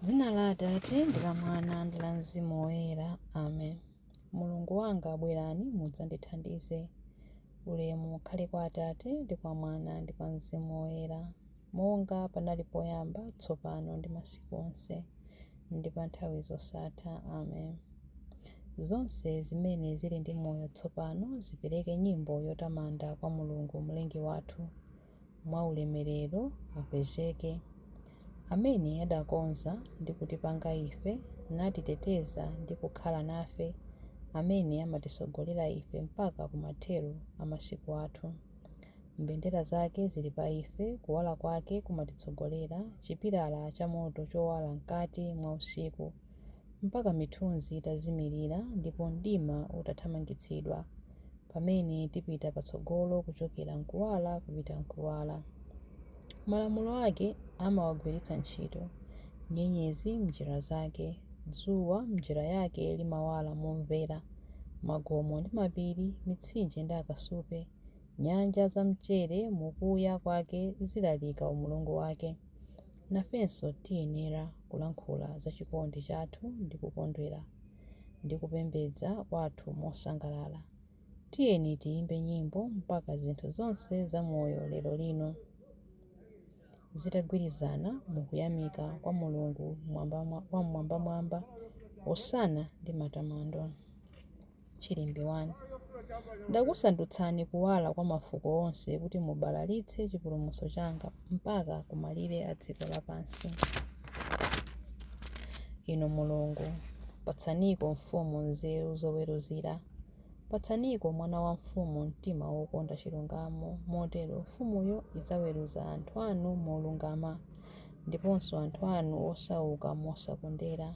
Dzina la Atate, ndi la Mwana, ndi la Mzimu Woyera. Amen. Mulungu wanga, bwerani mudzandithandize. Ulemu ukhale kwa Atate, ndi kwa Mwana, ndi kwa Mzimu Woyera, monga panali poyamba, tsopano, ndi masiku onse, ndi pa nthawi zosatha. Amen. Zonse zimene zili ndi moyo tsopano zipereke nyimbo yotamanda kwa Mulungu, Mlengi wathu. mwa ulemerero akwezeke, amene adakonza ndi kutipanga ife, natiteteza ndi kukhala nafe, amene amatitsogolera ife mpaka ku mathero a masiku athu. Mbendera zake zili pa ife, kuwala kwake kumatitsogolera, chipilala chamoto chowala mkati mwa usiku. mpaka mithunzi itazimirira ndipo mdima utathamangitsidwa, pamene tipita patsogolo kuchokera m'kuwala kupita m'kuwala. Malamulo ake amawagwiritsa ntchito, nyenyezi m'njira zake, dzuwa m'njira yake limawala momvera, magomo ndi mapiri, mitsinje ndi akasupe, nyanja zamchere mu kuya kwake zilalika umulungu wake. Nafenso tiyenera kulankhula za chikondi chathu ndi kukondwera ndi kupembedza kwathu mosangalala. Tiyeni tiyimbe nyimbo mpaka zinthu zonse za moyo lero lino zitagwirizana mu kuyamika kwa Mulungu Wam'mwambamwamba, Hosana ndi matamando! Chilimbi 1 Ndakusandutsani kuwala kwa mafuko onse kuti mubalalitse chipulumutso changa mpaka kumalire a dziko lapansi. Inu Mulungu, patsaniko mfumu nzeru zoweruzira. Patsaniko mwana wa mfumu mtima wokonda chilungamo, motero mfumuyo idzaweruza anthu anu molungama, ndiponso anthu anu osauka mosakondera.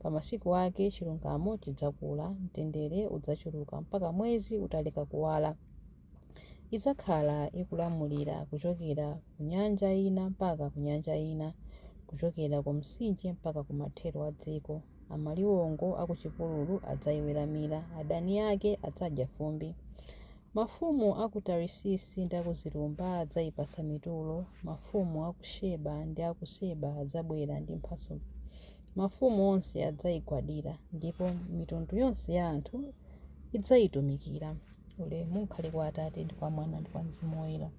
Pa masiku ake chilungamo chidzakula, mtendere udzachuluka mpaka mwezi utaleka kuwala. Idzakhala ikulamulira kuchokera ku nyanja ina mpaka ku nyanja ina, kuchokera ku Mtsinje mpaka ku mathero a dziko. Amaliwongo a ku chipululu adzaiweramira, adani ake adzadya fumbi. Mafumu a ku Tarisisi ndi a ku zilumba adzaipatsa mitulo, mafumu a ku Sheba ndi a ku Seba adzabwera ndi mphatso. Mafumu onse adzaigwadira, ndipo mitundu yonse ya anthu idzaitumikira. Ulemu ukhale kwa Atate ndi kwa Mwana ndi kwa Mzimu Woyera,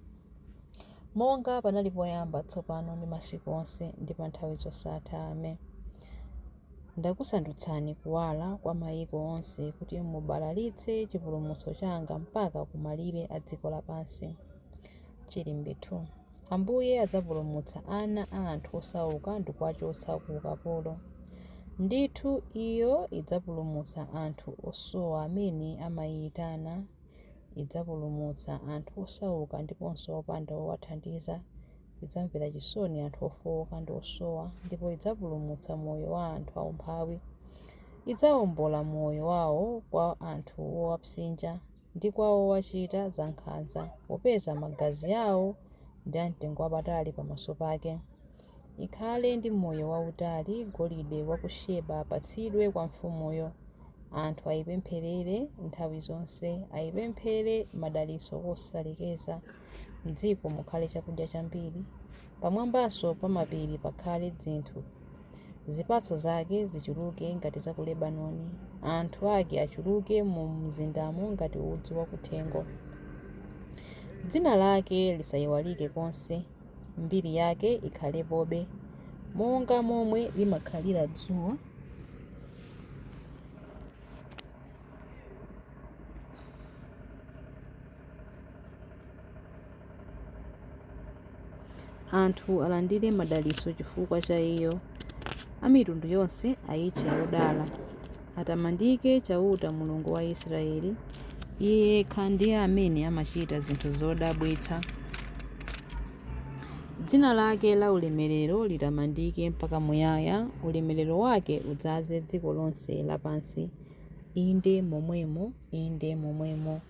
monga panali poyamba, tsopano ndi masiku onse ndi pa nthawi zosatha. Amen. Ndakusandutsani kuwala kwa mayiko onse kuti mubalalitse chipulumutso changa mpaka ku malire a dziko lapansi. Chilimbi 2. Ambuye adzapulumutsa ana a anthu osauka ndikuwachotsa ku ukapolo. Ndithu iyo idzapulumutsa anthu osowa amene amaiyitana, idzapulumutsa anthu osauka ndiponso opanda wowathandiza idzamvera chisoni anthu ofooka ndi osowa ndipo idzapulumutsa moyo wa anthu aumphawi. Idzawombola moyo wawo kwa anthu owapsinja ndi kwa owachita zankhanza, popeza magazi awo ndi amtengo wapatali pamaso pake. Ikhale ndi moyo wautali Golide wa ku Sheba apatsidwe kwa mfumuyo. Anthu aipempherere nthawi zonse, aipemphere madalitso kosalekeza. M'dziko mukhale chakudya chambiri, pamwambanso pa mapiri pakhale dzinthu. Zipatso zake zichuluke ngati za ku Lebanoni, anthu ake achuluke mu mzindamo ngati udzu wakuthengo. Dzina lake lisayiwalike konse, mbiri yake ikhalepobe monga momwe limakhalira dzuwa. anthu alandire madalitso chifukwa cha iyo a mitundu yonse ayitche yodala atamandike chauta mulungu wa israeli iye yekha ndiye amene amachita zinthu zodabwitsa dzina lake la ulemerero litamandike mpaka muyaya ulemerero wake udzaze dziko lonse lapansi inde momwemo inde momwemo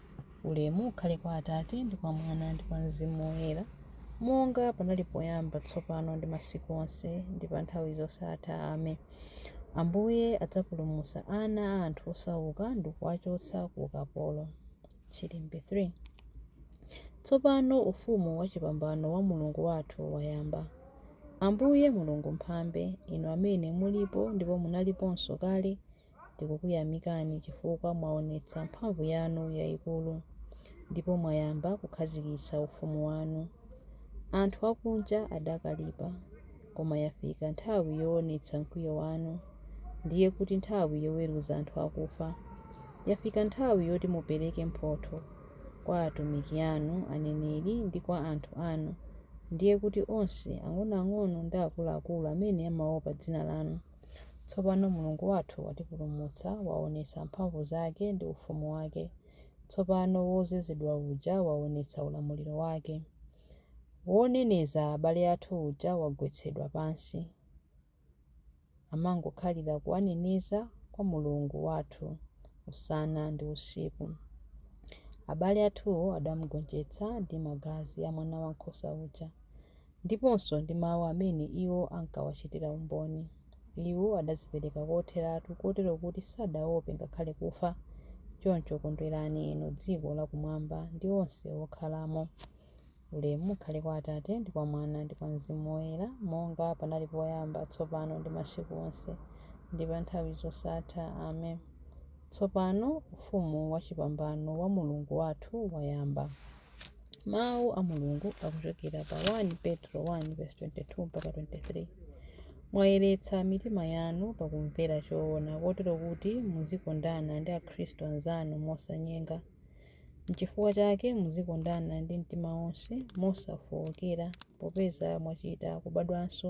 Ulemu ukhale kwa Atate, ndi kwa Mwana, ndi kwa Mzimu Woyera, monga panali poyamba, tsopano, ndi masiku onse, ndi pa nthawi zosatha. Amen. Ambuye adzapulumutsa ana a anthu osauka ndi kuwachotsa ku ukapolo. Chilimbi 3 Tsopano ufumu wachipambano wa Mulungu wathu wayamba. Ambuye Mulungu Mphambe, inu amene mulipo ndipo munaliponso kale, Tikukuyamikani chifukwa mwaonetsa mphamvu yanu yaikulu ndipo mwayamba kukhazikitsa ufumu wanu. Anthu akunja adakalipa, koma yafika nthawi yoonetsa mkwiyo wanu, ndiye kuti nthawi yoweruza anthu akufa. Yafika nthawi yoti mupereke mphotho kwa atumiki anu, aneneri, ndi kwa anthu anu, ndiye kuti onse, ang'onoang'ono ndi akuluakulu amene amaopa dzina lanu. Tsopano Mulungu wathu watipulumutsa, waonetsa mphamvu zake ndi ufumu wake. Tsopano wodzozedwa uja waonetsa ulamuliro wake. Woneneza abale athu uja wagwetsedwa pansi. Amangokhalira kuwaneneza kwa Mulungu wathu usana ndi usiku. Abale athuwo adamgonjetsa ndi magazi a Mwanawankhosa uja. Ndiponso ndi mawu amene iwo ankawachitira umboni, iwo adadzipereka kotheratu kotero kuti sadaope ngakhale kufa, choncho kondwerani inu dziko lakumwamba ndi onse okhalamo. Ulemu ukhale kwa Atate, ndi kwa Mwana, ndi kwa Mzimu Woyera, monga panali poyamba, tsopano, ndi masiku onse, ndi pa nthawi zosatha. Amen. Tsopano ufumu wachipambano wa Mulungu wathu wayamba. mawu a mulungu akuchokera pa 1 petro 1 verse 22 mpaka 23 mwayeretsa mitima yanu pakumvera choona kotero kuti muzikondana ndi akhristu anzanu mosanyenga nchifukwa chake muzikondana ndi mtima wonse mosafookera popeza mwachita kubadwanso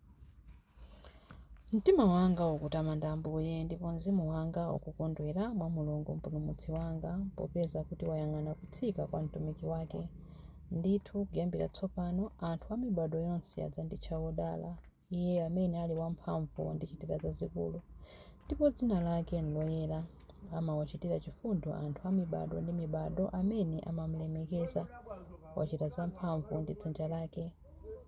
Mtima wanga ukutamanda Ambuye, ndipo mzimu wanga ukukondwera mwa Mulungu Mpulumutsi wanga, popeza kuti wayang'ana kutsika kwa mtumiki wake. Ndithu, kuyambira tsopano anthu a mibadwo yonse adzanditcha wodala, iye amene ali wamphamvu wandichitira zazikulu, ndipo dzina lake n'loyera. Amawachitira chifundo anthu a mibadwo ndi mibadwo amene amam'lemekeza, wachita zamphamvu ndi dzanja lake.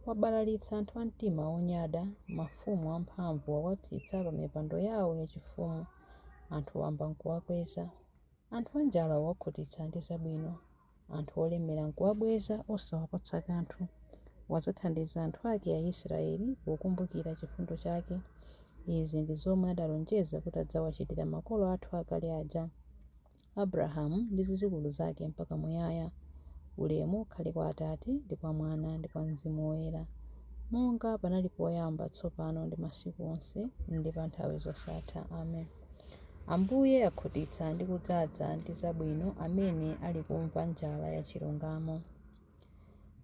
Wabalalitsa anthu a mtima wonyada, mafumu amphamvu wawatsitsa pamipando yawo yachifumu, anthu wamba n'kuwakweza. Anthu anjala wawakhutitsa ndi zabwino, anthu olemera n'kuwabweza osawapatsa kanthu. Wadzathandiza anthu ake Aisiraeli pokumbukira chifundo chake. Izi ndi zomwe adalonjeza kuti adzawachitira makolo athu akale aja. Abrahamu ndi zidzukulu zake mpaka muyaya. Ulemu ukhale kwa Atate, ndi kwa Mwana, ndi kwa Mzimu Woyera, monga panali poyamba, tsopano, ndi masiku onse, ndi pa nthawi zosatha. Amen. Ambuye akhutitsa ndi kudzaza ndi zabwino amene ali kumva njala ya chilungamo.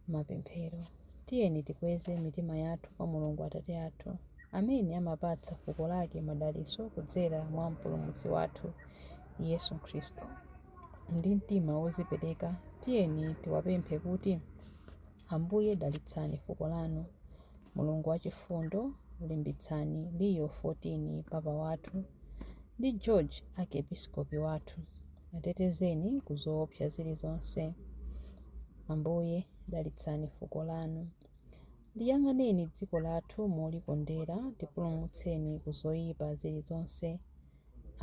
Mapemphero. Tiyeni tikweze mitima yathu kwa Mulungu Atate athu, amene amapatsa fuko lake madalitso kudzera mwa Mpulumutsi wathu, Yesu Khristu. Ndi mtima wodzipereka, tiyeni tiwapemphe kuti, Ambuye dalitsani fuko lanu. Mulungu wachifundo, limbitsani Leo 14 Papa wathu ndi George Arkepiskopi wathu. Atetezeni ku zoopsa zilizonse. Ambuye, dalitsani fuko lanu. Liyang'aneni dziko lathu molikondera, tipulumutseni ku zoyipa zilizonse.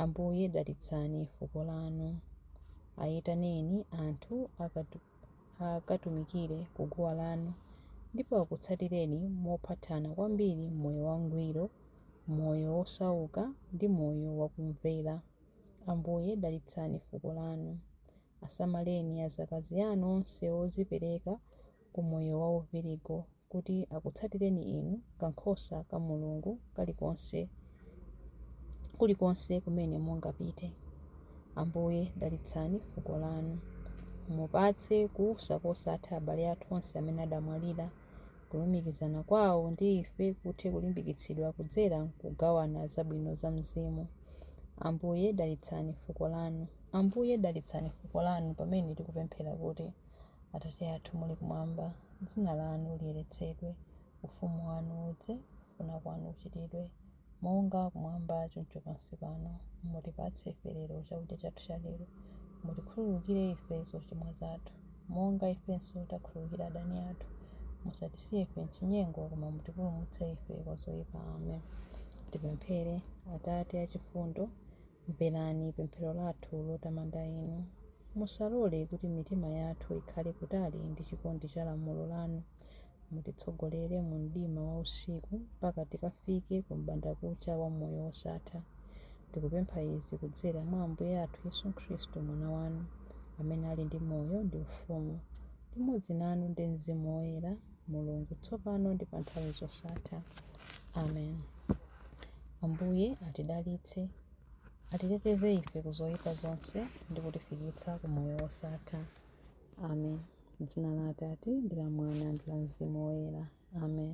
Ambuye, dalitsani fuko lanu. Ayitaneni anthu akatumikire ku guwa lanu ndipo akutsatireni mophathana kwambiri m'moyo wangwiro, moyo wosauka, ndi moyo wakumvera. Ambuye dalitsani fuko lanu. Asamaleni azakazi anu onse odzipereka ku moyo wa uvirigo kuti akutsatireni Inu, kankhosa ka Mulungu kalikonse, kulikonse kumene mungapite. Ambuye, dalitsani fuko lanu. Mupatse kuusa kosatha abale athu onse amene adamwalira. Kulumikizana kwawo ndi ife kuthe kulimbikitsidwa kudzera m'kugawana zabwino za Mzimu. Ambuye, dalitsani fuko lanu. Ambuye, dalitsani fuko lanu pamene tikupemphera kuti, Atate athu muli kumwamba, dzina lanu liyeretsedwe, ufumu wanu udze, kufuna kwanu kuchitidwe. Monga kumwamba choncho pansi pano, mutipatse ife lero chakudya chathu cha lero. Mutikhululukire ife zochimwa zathu, monga ifenso takhululukira adani athu. Musatisiye ife m'chinyengo, koma mutipulumutse ife kwa zoipa. Amen. Tipemphere. Atate achifundo, Mverani pemphero lathu lotamanda Inu. Musalole kuti mitima yathu ikhale kutali ndi chikondi cha lamulo lanu. Mutitsogolere mu mdima wa usiku mpaka tikafike ku m'bandakucha wa moyo wosatha. Tikupempha izi kudzera mwa Ambuye athu Yesu Khristu, Mwana wanu, amene ali ndi moyo ndi ufumu limodzi nanu ndi Mzimu Woyera, Mulungu, tsopano ndi pa nthawi zosatha. Amen. Ambuye atidalitse, atiteteze ife ku zoyipa zonse ndi kutifikitsa ku moyo wosatha. Amen. M'dzina la Atate ndi la Mwana ndi la Mzimu Woyera. Amen.